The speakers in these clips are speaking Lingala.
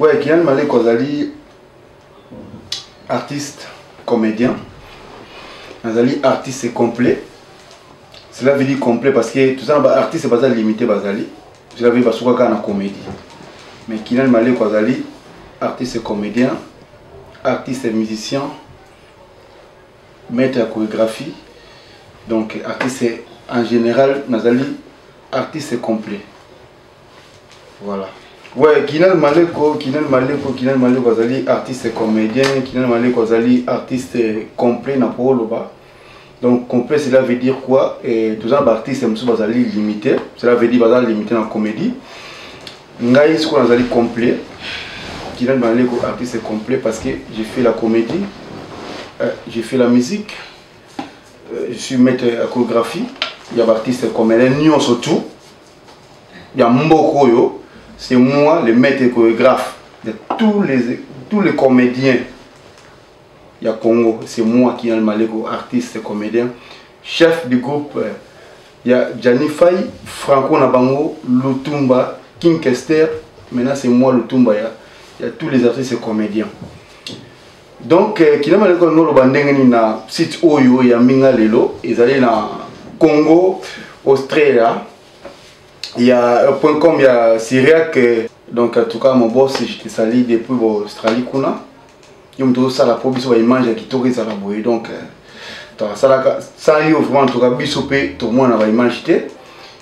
Ouais, Kylian Maleko azali artiste, comédien. Azali artiste complet. Cela veut dire complet parce que tout ça, bah, artiste baza limité bazali. Cela veut dire basuka kaka na comédie. Mais Kylian Maleko azali artiste comédien, artiste musicien, maître ya chorégraphie donc artiste en général nazali artiste complet voilà ouais kinal maleko kinal maleko kinal maleko azali artiste comédien kinal maleko azali artiste complet na po oloba donc complet cela veut dire quoi toza na baartiste mosusu bazali limité cela veut dire baza limité na comédie ngai sikoyo nazali complet Dylan Banleko artiste complet parce que j'ai fait la comédie euh, j'ai fait la musique euh, je suis maître ya chorégraphie ya baartiste comédien nyonso tout ya mboka oyo c'est moi le maître chorégraphe de tous les, tous les comédiens ya Congo c'est moi qui ai le maleko artiste comédien chef du groupe euh, ya Gianni Fay Franco na bango Lutumba King Kester maintenant c'est moi Lutumba ya ya tous les artistes comédiens donc euh, kinama leko no loba ndenge ni na site oyo ya mbinga lelo ezali na Congo Australia il y a un point com il y a Syriac euh, donc en tout cas mon boss je te salue depuis Australie kuna yo moto osala mpo biso baimage ya kitoko ezala boye donc euh, tokasalaka sa yo vraiment toka biso mpe tomona baimage te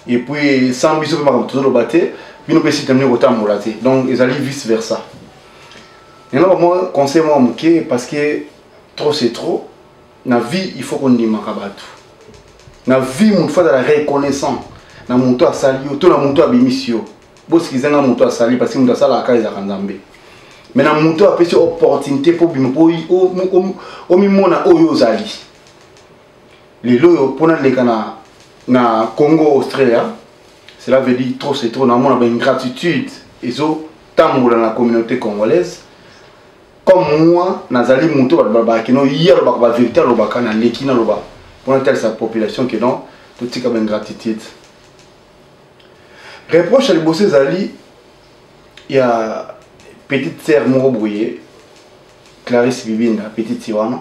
epuis sans biso mpe makambo tozoloba te bino mpe site ndenge kotambola te donc ezali vice versa yango bamwa conseil mwa moke parce que trop c'est trop na vie il faut kondimaka bato na vie moto fo azala reconnaissant na moto asali yo to na moto abimisi yo bosikisa nga moto asali parce que moto asalaka kaka ezalaka nzambe me na moto apesi opportunité mpo bima omimona oyo ozali lelo oyo mpo naleka na, na congo australia cela veut dire trop c'est trop namona baingratitude ezotambola na communauté congolaise comme moi nazali moto bato balobaka no ye alobaka bavérité alobaka naleki naloba mpo natalisa population ke non totika baingratitude reproche ya liboso ezali ya petite sœur moko boye clarisse bibinda petite ye wana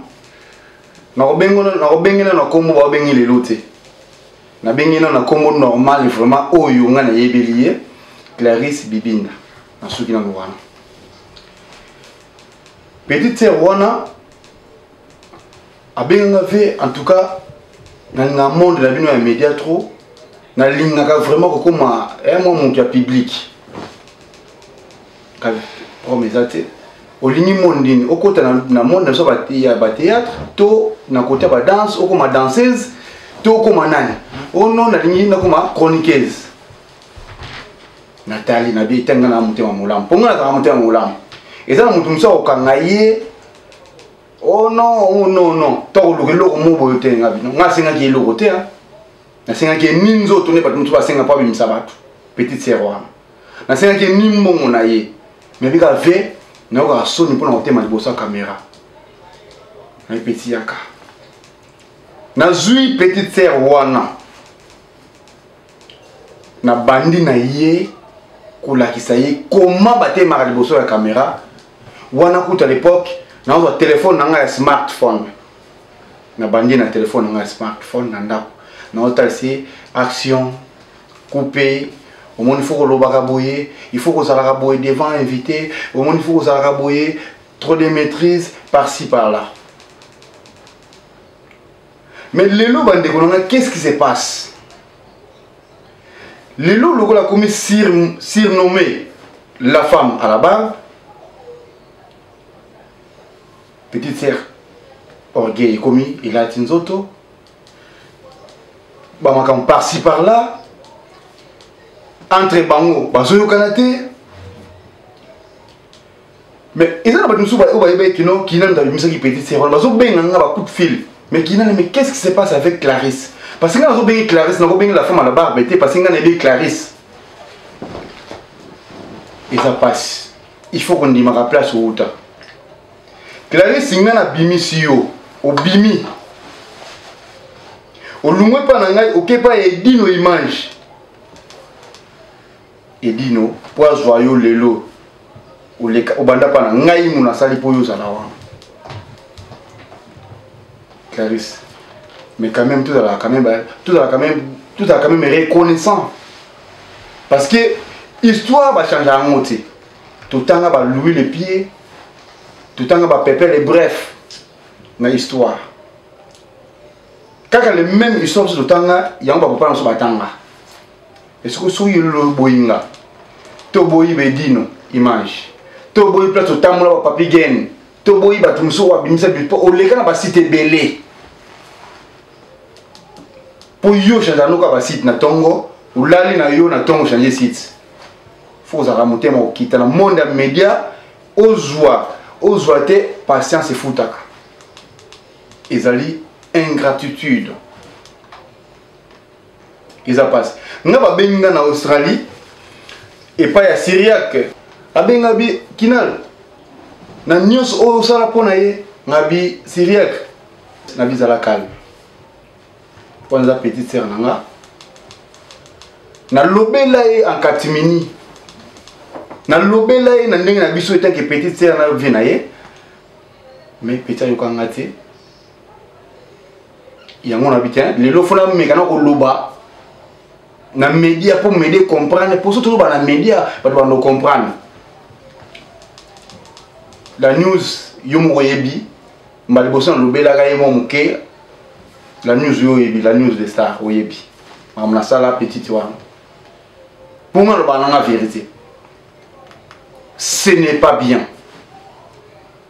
nakobengi na na nkombo baobengi lelo te nabengi na na nkombo normal vraiment oyo ngai nayebeli ye clarisse bibinda nasuki nano wana petite sœur wana abenga nga vie en tout cas nalinga monde na bino ya média trop nalingaka vraiment kokoma eh, mwa moto ya public problème eza te olingi monde nini okota na monde na biso ya batéâtre to na kote ya badanse okoma danseuse to okoma nani o oh non nalingi nakoma chroniqueuse natali na bie etanga na motema molamu mpo ngai nazalaka motema molamu eza na moto mosusu akokanga ye oh non oh non non tokoluka eloko moko boyo te nga bino nga asengaki eloko te nasengaki ye ni nzoto nde bato mosusu basenga mpo abimisa bato petite sere wana nasengaki ye ni mbongo na ye nayebi kaka ve nayokaka soni mpo na kotema liboso ya kamera nayepetiyaka nazwi petite sere wana na bandi na ye kolakisa ye koma batemaka liboso ya kamera wana kuta lepoke nazwa telefone na ngai ya smartphone na bandi na telefone na ngai ya smartphone na ndako naotalisa ye action coupe omoni fo kolobaka boye il faut kozalaka boye devant invité omoni fo kozalaka boye trop de maîtrise par ci par là mais lelo bandeko na ngai qu'est-ce qui se passe lelo lokola akomi sur, surnommé la femme à la barbe petite sœur orgueil ekomi elati nzoto bamakambo parci par là entre bango bazoyokana te mais eza na bato mosusu oyo bayebaki kino kina moto abimisaki petite sere wana bazobenga nga bacoup fil mais kina na mais qu'est ce qui se passe avec clarisse parce que nga nazobengi clarisse nakobengi la femme à la barbe te parce que nga nayebi clarisse eza mpasi il faut kondimaka place outa clarisse nga nabimisi yo obimi olungwe mpa na ngai okepa ya edino image edino mpo azwa yo lelo oleka obanda mpa na ngai mo nasali mpo yo ozala wana clarisse mais quand même tozalaka quand même tozalaka quand même tozalaka quand même reconnaissant parce que histoire bachangea yango te totanga balouis le pied totanga bapepele bref na histoire kaka le même histoire biso totanga yango bakopana biso batanga esiko soki elolo oboyi nga toboyi bedino image toboyi place otambola wa papi gene toboyi bato mosusu oyo abimisa bipo oleka na basite ebele mpo yo change anoka basite na ntongo olali na yo na ntongo change site fo ozalaka motema okita na monde ya media ozwa ozwa te patience efutaka ezali ingratitude eza pasi nga babengi nga na australie epai ya syriaque abenga bi kinal na nyonso oyo osala mpo na ye nga bi syriaque na bizala calme mpo naza petite sere na nga nalobela ye en catimini nalobela ye na ndenge na biso etaki petite sere na vie na ye mais peti ayokanga te yango na bite lelo fona meka na koloba na media mpo media comprendre mpo so toloba na media bato bando comprendre la news yo moko oyebi mbala liboso nalobelaka ye mwa moke la news yo oyebi la news de star oyebi makambo nasala petite wana mpo nga naloba nanga vérité ce n'est pas bien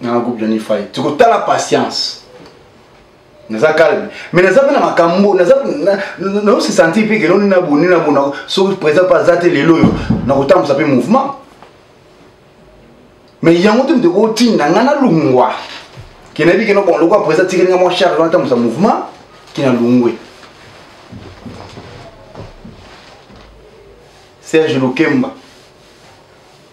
na groupe Johnny Fay tokotala patience naza calme mais naza mpe na makambo naosi sentir mpe keloni na boni na bona soki président mpe aza te lelo oyo nakotambusa mpe mouvement mais yango te moto ekotinda ngai nalungwa ke nayebi keno bon lokola président tikeli ngai mwa charge wana tambusa mouvement ke nalungwe serge lukemba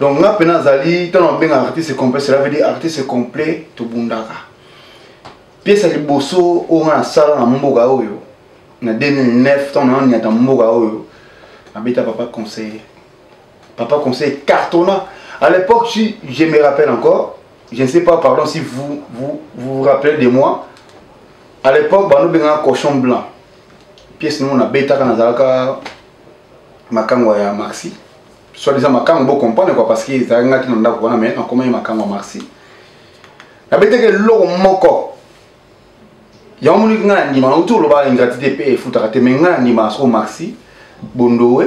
donc nga mpe nazali ntango nabenga artiste complet cela veut dire artiste complet tobundaka piese ya liboso oyo nga nasala na mboka oyo na 2009 ntango nananiata mboka oyo nabeta papa conseiller papa conseiller cartonna à l'époque si je me rappelle encore je ne sais pas pardon si vous vous, vous, vous rappelez de moi à l'époque banobengaka cochon blanc piese nongo nabetaka nazalaka makango ya maxi soit disant makango bo comprendre quoi parce que ezalaki ngai te na ndako wana mais nakomaki makango ya marsi nabetaki eloko moko yango moniki ngai na ndima nauti olobaka ingratitude mpe efutaka te mais ngai na ndima soko marsi bondowe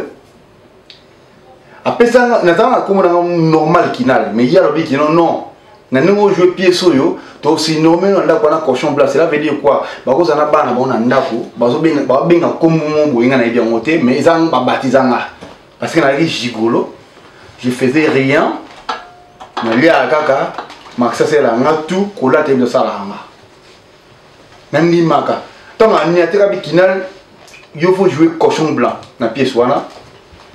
apesa nazalaka na kombo na ngai normal kinal mais ye alobi kino non na ndenge oyo jwe piese oyo tosinorme na ndako wana cochon bla cela veut dire quoi bakoza na bana bango na ndako babenga kombo mo boye nga nayebi yango te mais eza babatiza nga parce que nalaki gigolo je faisais rien naliaka kaka makisasela nga tu kolata yebi tosalaka nga nandimaka ntango ani ateka bikinal yo faut jouer cochon blanc na pièce wana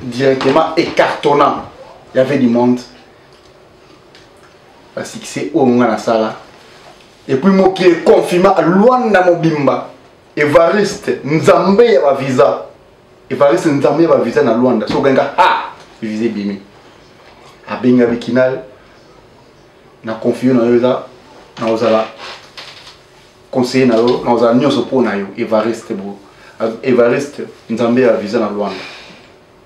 directement écartonnant il y avait du monde ba succès oyo nga nasala epuis mokili econfirma luanda mobimba evariste nzambe ya bavisa evariste nzambe ya bavisa na luanda soki obenga ha visa ebimi abenga bikinal na confio na yo eza nakozala conseiller na yo nakozala nyonso mpo na yo evariste bo evariste nzambe ya visa na luanda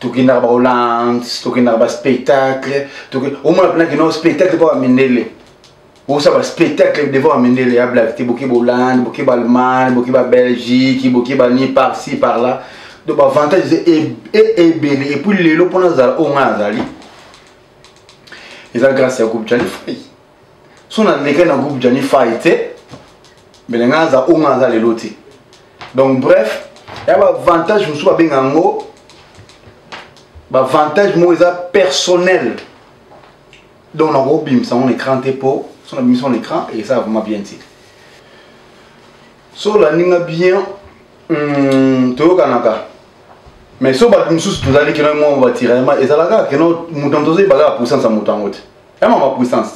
tokendaka ba hollande tokendaka ba spectacle omona mpena kino spectacle mpo bamindele osa ba spectacle devant bamindele ya blak te boke bahollande boke baallemagne boke babelgique boke bani par ci par là donc baavantage eza e, e, ebele epuis lelo mpo nazala oyo ngai nazali eza grâce ya groupe jalifai so na leka na groupe jani fai te mbele ngai aza o ngai aza lelo te donc bref ya baavantage mosusu babenga yango baavantage moko eza personnel donc nakobimisa yango na écran te mpo so nabimisa yango na écran eza vraiment bien te so olandi nga bien hmm, toyokanaka mais so bato mosusu tozali kino mwa batiraillement ezalaka kino moto moto ozoyebaka apusansa moto yango te ya mama puissance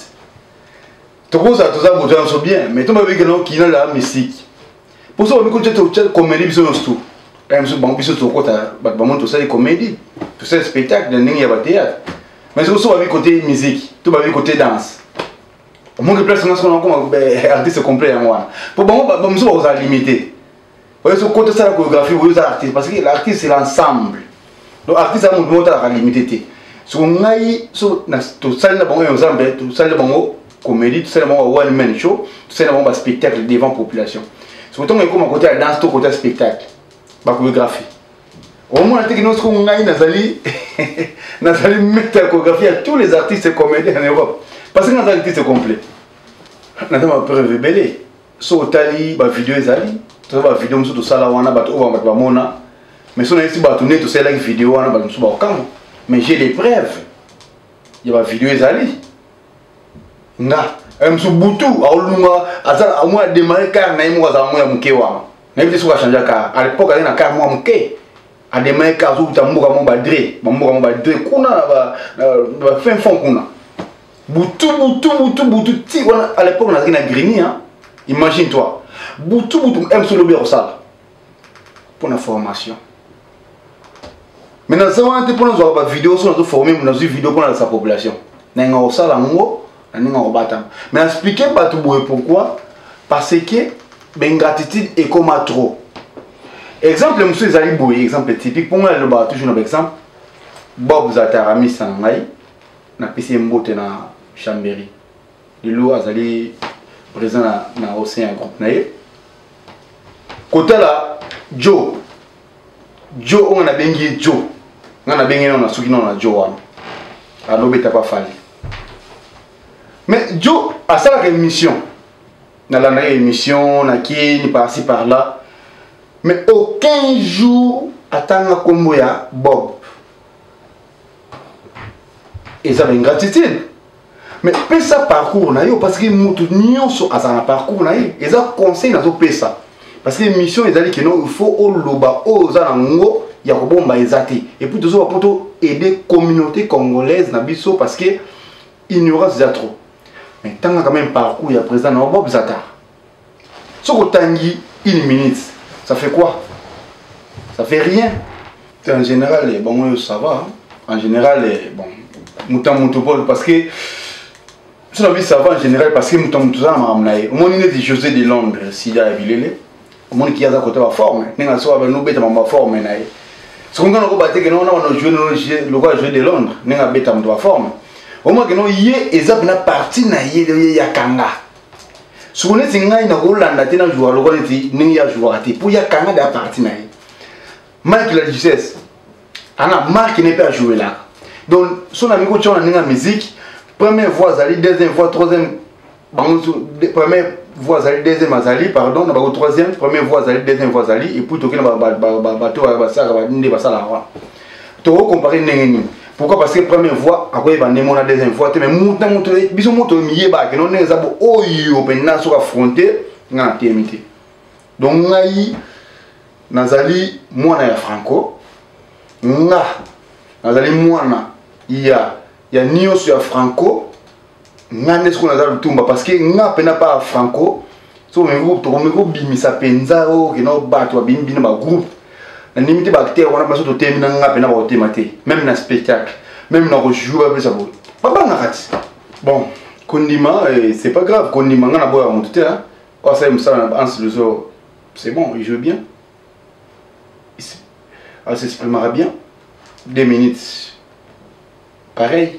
tokozala toza moto ya biso bien mais tomba bikela okina la misiki mpo so babiko te komeli biso nyonso tu kaka biso bango biso tokota bato bamoni tosali komedi tosali spectacle na ndenge ya bateatre mais soki so babi kote miziki to babi kote danse omongi place nga soko nakoma artiste complet yango wana mpo bango bamosusu bakozala limite oyo soki kota sala choreographie oyo eza artiste parce que l'artiste c'est l'ensemble donc artiste ya motu moko talaka limite te soko ngai so tosali na bango ensemble tosali na bango comédie tosali na bango one man show tosali na bango baspectacle devant population soko ntongo ekoma kote ya danse to kote ya spectacle bachoreographie omona te kino soko ngai nazali nazali mete ya choreographie ya tous les artistes comédien en europe parce que nazali artiste complet naza mapreuve ebele soki otali bavideo ezali toza bavideo mosusu tosala wana bato oyo bato bamona mais so nayesi bato nde tosalelaki video wana bato mosusu bakokamwa mais j'ai des preuves ya bavideo ezali nga eh, mosusu butu aolunga amoi ademare kare na ye moko azala moko ya moke wana nayebi te soki achange kare à l'époque azali na kare moko ya moke ademare kare azokuta mboka moko badre bamboka moko badre kuna na bafin fond kuna butu butu butu butu ti wana à l'époque nazalaki na grini hein? imagine toi butu butu mc lobi ya kosala mpo na formation mais naza wana te mpo nazwaka bavideo so nazoforme nazwi video mpo nalakisa population nalinga kosala yango na ndenge akobatama mais naexplike bato boye pourquoi parce que bengratitude ekoma trop exemple mosusu ezali boye exemple typique mpo ngai nalobaka toujours na baexemple bob zatarami sana ngai napesi ye mbote na chamberi lelo azali présent na, na au sein ya groupe na ye kotala jo jo oyo nga nabengi ye jo nga nabengi nano nasuki nano na jo wana alobeta pa fali mais jo asalaka émission nalandaka émission nakeni parci par là mais aucun jour atanga nkombo ya bob eza na ingratitude mais pesa parcours na yo parce que moto nyonso azala na parcours na ye eza conseil nazopesa parce que mission ezali kino il faut oloba oyo oza na ngo ya kobomba eza te epuis tozoba mpo to aider communauté congolaise na biso parce que ignorance eza trop mais tanga quand même parcours ya président na yo bob zatar soki otangi une minute ça fait quoi ça fait rien te en général eh, bango oyo ça va en général eh, bon moto ya moto pole parce que so na bi ça va en général parce que moto ya moto oza na makambo na ye omoni neti josé de londres sida ya bilele omoni ki aza kota baforme ndenge asoka banobeta mambo baforme na ye soki nga nakoba te kena wana banojoue lokola joue de londres ndenge abeta moto baforme omoni kena ye eza mpena parti na ye leo ye yakanga soko neti ngai nakolanda te na jouaka lokola neti ndenge ya jouaka te mpo ya kanga de ya parti na ye mike la ducesse ana marke ne mpe ajouelaka donc so na mikotia wana ndenge ya musique première voix azali deuxième voix troisième bango première voix azali deuxième azali pardon na bango troisième première voix azali deuxième voix azali epuis toki na bato basalaka nde basalaka wana toko compare ndenge nini pourquoi parce que première fois akoyeba nde mona deuxième fois te mais muta mutu biso moto miyebake no ndenge eza bo oyo mpenza soki affronte ngai na temi te donc ngai nazali mwana ya franco nga nazali mwana ya ya nyonso ya franco nga nde sikoyo naza lutumba parce que nga mpena pa franco so tokomi kobimisa mpenza oyo kena bato babimi bino bagroupe nandimi te baacteur wana biso totemi na nga mpena bakotema te meme na spectacle meme na kojoue bapesa boye babangaka ti bon kondima eh, c'est pas grave kondima nga naboyaka moto te oyo asali mosala na banse luso c'est bon il joue bien asexprimaka bien deux minutes pareil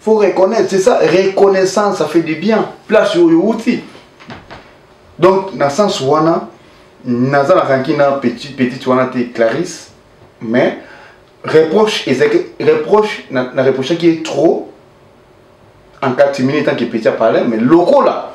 faut reconnaître c'est ça reconnaissance ça fait du bien place oyo outi donc na sens wana naza na ranki na petit petite wana te clarisse mais reproche ezalaki reproche na, na reprochaki ye trop en catimini tant que petit apalai mais lokola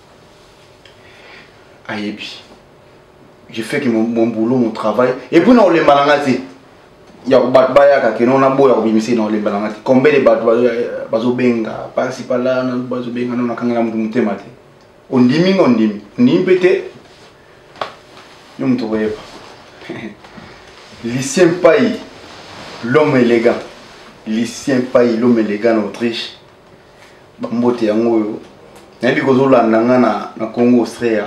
ayebi je fais que mon, mon boulot mon travail et puis na olemba na nga te ya bato bayaka keno na boya kobimisa na olemba na nga te combien de bato bazobenga pasi pala bazobenga no nakangela moto motema te ondimi nga ondimi ondimi mpe te yo moto koyeba lucien pai l'homme élégant lucien pai l'homme élégant na autriche bambote yango oyo nayebi kozolanda nga na, na congo austria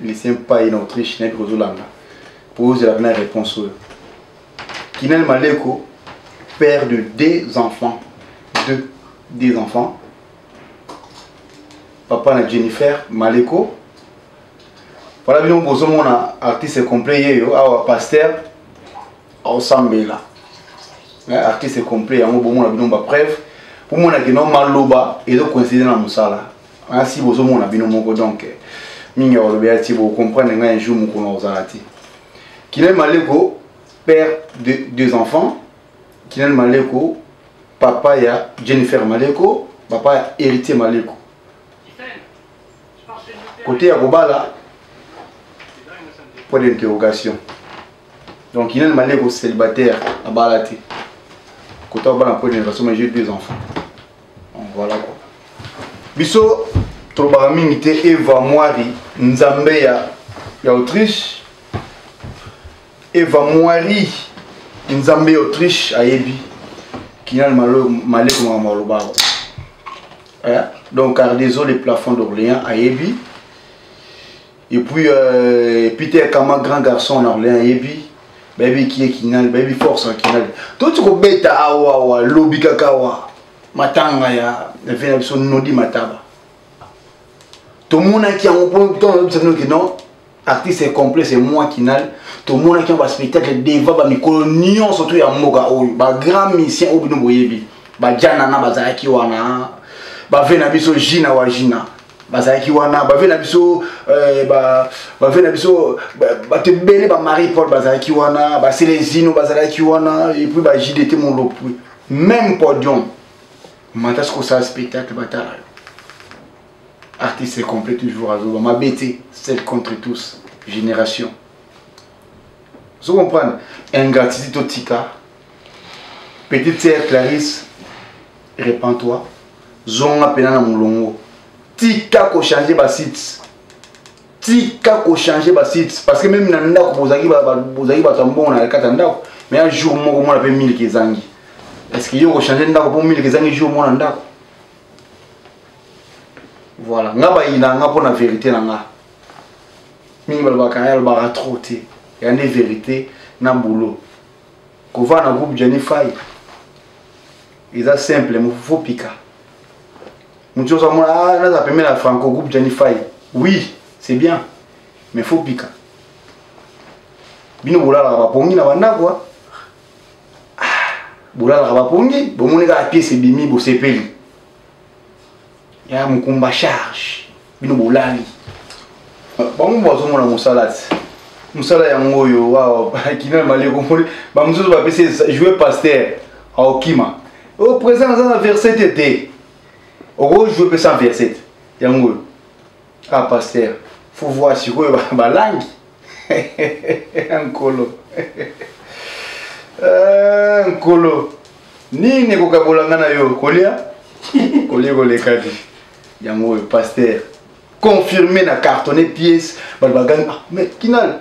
lycée mpai na autriche nayebi kozolanda mpo ozela mpena réponse oyo kinani maleko père de deux enfants deux, deux enfants papa na jennifer maleko wana bino bozomona artiste complet yeyo awa pasteur osambela eh, artiste complet yango bomona bino ba preuve pomona kino maloba ezo coïncide na mosala asi bozomona bino moko donc eh, mingi ya balobi ya ti bocomprendre ngai un jour mokolo nakozala te kinel maleko père de deux enfants kinel maleko papa ya jennifer maleko papa ya héritier maleko kote ya kobala point d'interrogation Donc il y a une manière célibataire à Balati. Quand on va la première façon, j'ai deux enfants. Donc voilà quoi. Biso, tolobaka mingi te eva mwari nzambe ya, ya autriche eva mwari nzambe ya autriche ayebi kinal maleko makambo alobaka eh? donc cardezo le plafond d'orléans ayebi et puis euh, peter kama grand garçon na orlean ayebi bayebi kie kinali bayebi force ya kinali toti kobeta awawa lobi kaka awa matanga ya vie na biso nodi mataba tomonaki yango mpo ntango oyebisa bino ke non artiste est complet c'est moi kinal tomonaki yango baspectacle devant bamikolo nyonso to ya mboka oyo bagrand misien oyo bino boyebi bajanana bazalaki wana bave na biso jina wa jina bazalaki wana bave na biso eh, bave na biso bato ebele bamarie paul bazalaki wana baselezino bazalaki wana epuis bajdt molopui même podium mata soki osala spectacle batala yo artiste complet toujours azoba mabe te seul contre tous génération ozo comprendre ingratitude totika Petite sœur Clarisse, repends-toi. Zonga pena na mulongo. Tika ko changer ba sites. Tika ko changer ba sites parce que même na ndako bozaki ba bozaki ba tambongo na kata ndako, mais un jour moko mona pe 1000 kezangi. Est-ce que yo ko changer ndako pour 1000 kezangi jour mona ndako? Voilà, nga ba ina nga pona vérité na nga. Mingi balobaka ya lobaka trop te. Ya nde vérité na boulot. Kova na groupe Jenny Fay. Eza simple, mon faut pika. Mutu oza mona ah naza pembe na Franco groupe Jenny Fay. Oui, c'est bien. Mais faut pika. Bino bolala ba pongi na banda quoi. Ah, bolala ba pongi, bomoni ka pièce ebimi bosepeli. ya mokumba charge bino bolali bango bazomona mosala ti mosala yango oyo wawa kina maleko moli bamosusu bapesi joue paster aokima o oh, présent aza na verset te te okojoue mpe sans verset yango oyo ah pasteur faut voir sikoyo balangi nkolo eh, nkolo nini ekokabola nga na yo kolia kolia kolekaki yango oyo pasteur confirme na cartonne pièce bato bagangi ah, mais kinal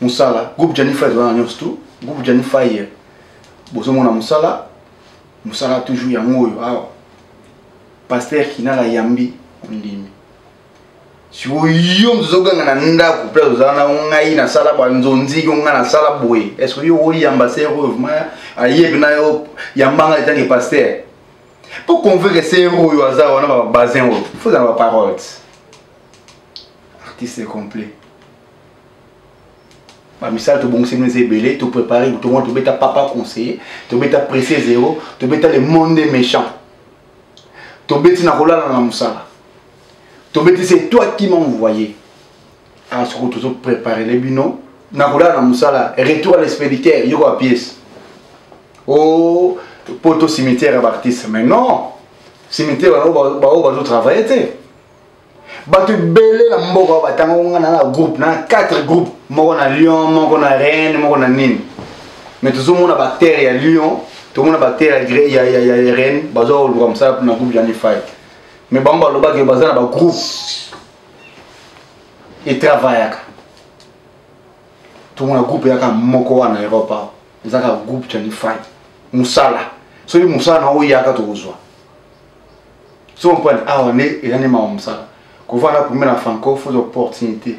musala groupe jani fire ezala na nyonso tu groupe jani fire bozomona musala musala toujours yango oyo awa paster kinala yambi ondimi sikoyo mosusu ozoganga na ndako place ozala na ngai nasala banzonziki ngai nasala boye estce yo oyamba ser oyo vraimen ayebi na yo yamba ngai etange paster mpo convaincre ser oyo aza wana babasin oyo fozala baparoles artiste complet bamisala tobongiseli eza ebele toprépare tokoma tobeta papa conseiller tobeta presse zero tobeta le monde méchant tobeti na kolala na mosala tobeti se toi qui m'envoye awa ah, soko tozo préparele bino na kolala na mosala retour à l'expéditeur yoko ya pièce o oh, poto cimetière ya baartiste mais non cimetière baoyo bazotravaille te bato ebele na mboka oyo batanga ngai na groupe na quatre groupe moko na lyon moko na reine moko na nini mais tozomona bactere ya lyon tomona bactere ya reine baza koluka mosala mpona groupe ya nifai mais bango balobaki baza na bagroupe etravayaka tomona groupe yaka moko wana europe awa ezaka groupe ya nifai mosala soki mosala na oyo yaka tokozwa sompani awa nde eza nde mawa mosala kovanda kumbe na franco fo ozwa opportunité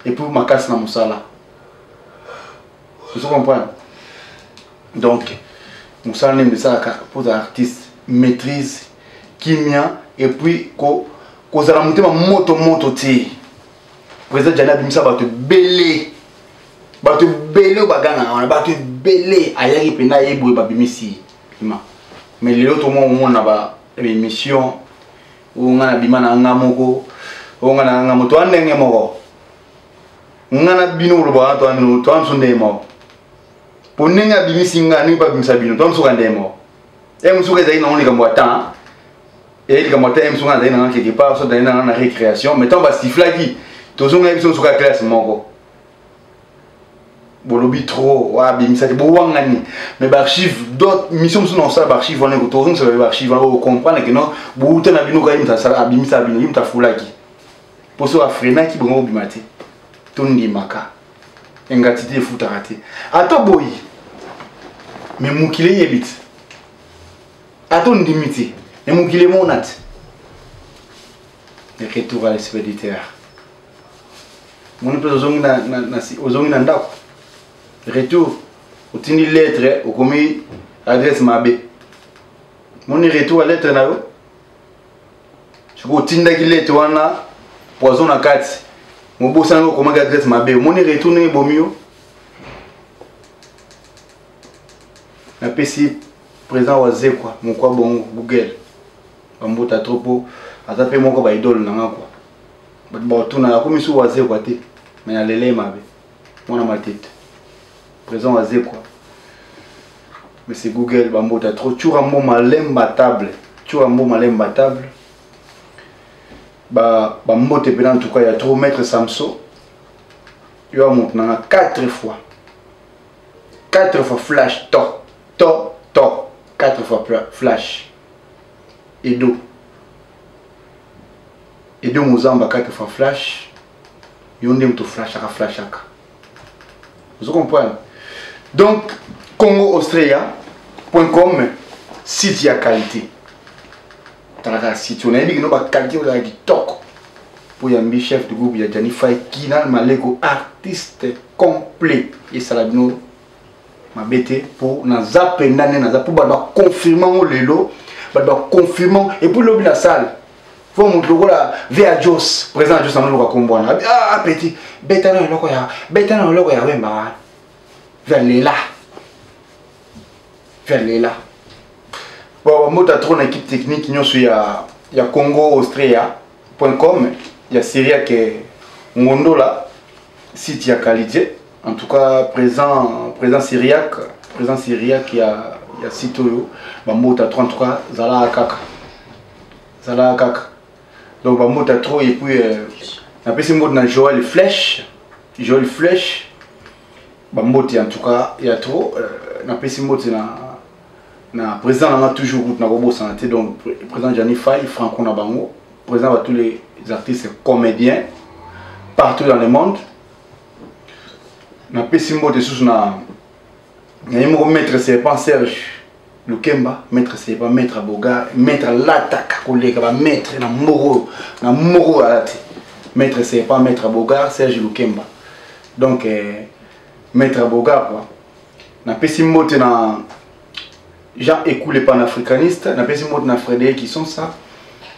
epuis makasi na mosala ozo comprendre donc mosala nde misalaka mpo oza artiste maîtrise kimia epuis kozala motema moto moto te président jani abimisa bato ebele bato ebele oyo bagangaka wana bato ebele ayaki mpenza ye boye babimisi ye ma mais lelo to mwa omona ba émission oyo nga na bima na nga moko oyo nga na nga moto wa ndenge moko nga na bino koloba wana to bino to biso ndenge moko mpo ndenge abimisi nga ndenge mpe abimisa bino to biso ka ndenge moko e mosuka ezali nango likambo ya temps eyei likambo ya temps e mosuka nazali nanga quelque part so nazali nanga na récréation mais ntango basiflaki tozongaki biso mosuka ya classe moko bolobi trop wa abimisaki bowangani mais baarchive dot mission mosusu na kosala baarchive wana ekoto ozongisaka yo baarchive wana okomprendre ke non bouta na bino kaye moto asala abimisa bino ye moto afulaki mpo soki afrenaki bongo kobima te tondimaka ingratitude efutaka te ata boyi me mokili eyebi te ata ondimi te me mokili emona te retour à l'esprit du terre moni mpe ozongi na, na, na, ozongi na ndako retour otindi lettre okomi adresse mabe moni retour ya lettre na yo soki otindaki lettre wana poison na kati mobosani okomaki adresse mabe omoni retour ndenge ebomi yo napesi président wa zekwa mokwa bongo google bambuta trop po aza mpe moko baidole na nga kua bato bakotuna nakomi su wazekwa te me nalele mabe mwana matete présent wazekwa monsieur google bambota trop tshura mbo malemba table tshura mbo malemba table bambote mpena en tout cas ya trop maître samson yo ya moto nanga 4 fois 4 fois flash to to to 4 fois flash edo Edo Muzamba kati fa flash yo nde moto flashaka flashaka ozo comprendre donc congo austria point com site ya qualité talaka site onayebi kino baqualité ozala kitoko mpo yambi chef de groupe ya jani fai kinal maleko artiste complet esala bino mabe te mpo naza mpenza nde naza mpo bato baconfirme yango lelo bato baconfirme yango epuis lobi na sale fo moto lokola via jos président jos yango lokola kombo wana ah, petit beta na eloko ya beta na eloko ya wemba wana via lela via lela bon bamota trop na équipe technique nyonso ya ya congo austria point com ya syriaque ngondola site ya qualité En tout cas, présent, présent syriaque, présent syriaque, il y a, il y a site oyo, bambota trop, en tout cas, zala akaka. Zala akaka. Donc bambota trop, et puis, euh, na pesi mbote na Joël Flèche, Joël Flèche, bambote en tout cas, il y a trop, euh, na pesi mbote na na président nanga toujours route na kobosana te donc président Gianni Fay, Franco na bango, président ba tous les artistes comédiens partout dans le monde. napesi mbote susu na naye moko maître serpent serge lukemba maître serpent maître boga maître alataka koleka bamaître na moko na moko alati maître serpent maître boga serge lukemba donc eh, maître boga quoi napesi mbote na jean ekule panafricaniste napesi mbote na frédéric kisonsa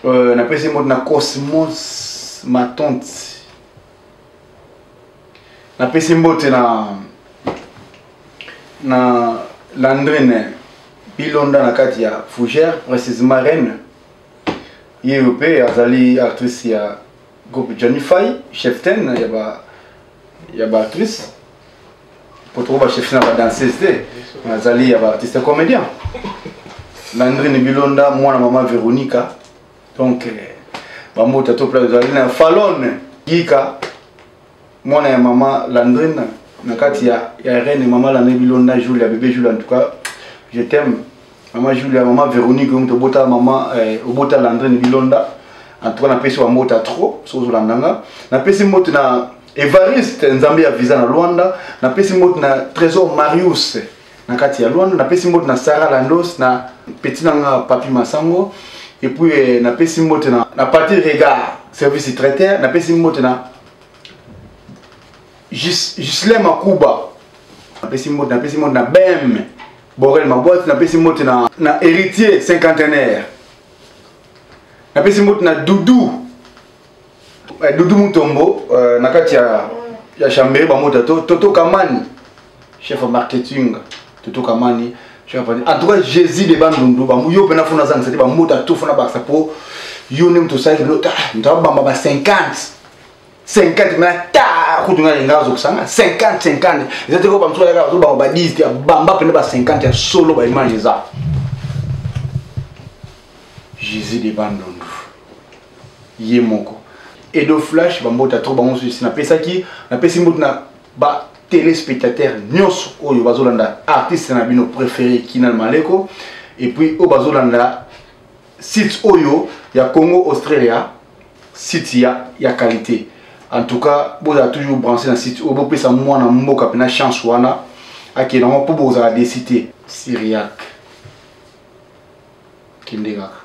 euh, napesi mbote na cosmos matonte napesi mbote na na landrine bilonda na kati ya fougère précisement reine ye oyo mpe azali actrice ya groupe janifai cheftaine ya ba ya ba actrice mpo toko ba cheftaine ya badanseuse te azali ya baartiste comédien landrine bilonda mwana mama veronica donc bambuta to place ezali na falone yika mwana ya mama landrine na kati ya, ya reine mama landrine bilonda julia bebe julia en tout cas je t'aime mama julia mama véronique omutu obota mama eh, obota landrine bilonda en tout cas napesi wa mbota trop soki ozolanda nga napesi mbote na evariste nzambe ya visa na luanda napesi mbote na trésor marius na kati ya luanda napesi mbote na sara landos na peti na nga papi masango epuis eh, napesi mbote na, na pati regard service traiter napesi mbote na jusle makuba napesi mbote napesi mbote na bem borel mabwati napesi mbote na, na héritier cinquantenaire napesi mbote na doudou Eh, Doudou Mutombo euh, na kati ya ya chambere bamota to Toto Kamani chef ya marketing Toto Kamani chef ya en tout cas Jésus de Bandundu ba yo pena fona zanga c'est ba mota to fona baksa po yo ne mto sali lota nda bamba ba 50 50 mais ta kutu ngai ngai zo kusanga 50 50 ezate ko bamso ya zo ba ba 10 ya bamba pena ba 50 ya solo ba image za Jésus de Bandundu ye moko edo flash bambota trop bango nsusi napesaki napesi mbote na ba téléspectateurs nyonso oyo bazolanda artiste na bino préféré kinal maleko et puis oyo bazolanda site oyo ya congo australia site ya, ya qualité en tout cas bozala toujours branché na site oyo bopesa mwana mboka mpena chance wana akende yango mpo bozala desite syriaque kende kaka